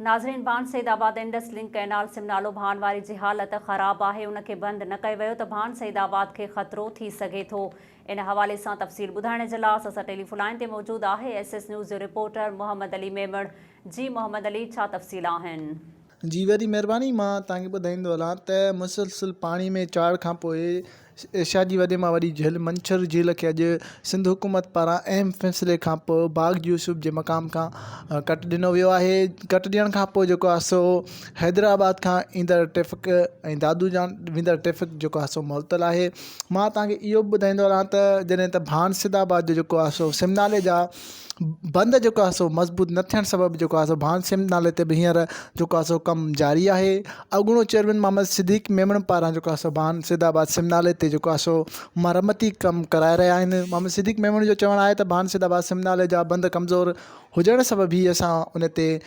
ناظرين Bhan Saidabad Indus link canal سم نالو ڀان واري جي حالت خراب آهي ان کي بند نه ڪيو ويو ته ڀان سيد آباد کي خطرو ٿي سگهي ٿو ان حوالي سان تفصيل ٻڌائڻ جي لاء اسان سان ٽيليفو لائين تي موجود آهي ايس ايس نيوز جو رپورٽر محمد علي ميمڻ جي محمد علي ڇا تفصيل آهن. جي وڏي مھرباني مان توھان کي ٻڌائيندو ھلان ته مسلسل پاڻي ۾ چاڙھ کان پوء ايشيا جي وڏي مان وڏي جهيل منڇر جهيل کي اڄ سنڌ حڪومت پاران اهم فيصلي کان پوء باغ يوسف جي مقام کان ڪٽ ڏنو ويو آهي ڪٽ ڏيڻ کان پوء جيڪو آهي سو حيدرآباد کان ايندڙ ٽريفڪ ۽ دادو جان ويندڙ ٽريفڪ جيڪو آهي سو معطل آهي مان تهانکي اهو به ٻڌائيندو رهان ته جڏهن ته ڀانسد آباد جو جيڪو آهي سو سمنالي جا بند جيڪو آهي سو مضبوط نه ٿيڻ سبب جيڪو آهي سو ڀان سنڌ نالي تي ھينئر جيڪو آهي سو ڪم جاري آهي اڳوڻو چيئرمين محمد صديق ميمڻ پاران جيڪو آهي سو ڀان سيد آباد سنڌ نالي تي جيڪو آهي سو مرمتي ڪم ڪرائي رهيا آهن محمد صديق ميمڻ جو چوڻ آهي ته ڀان سيد آباد سنڌ نالي جا بند ڪمزور ھجڻ سبب ھي اسان ان تي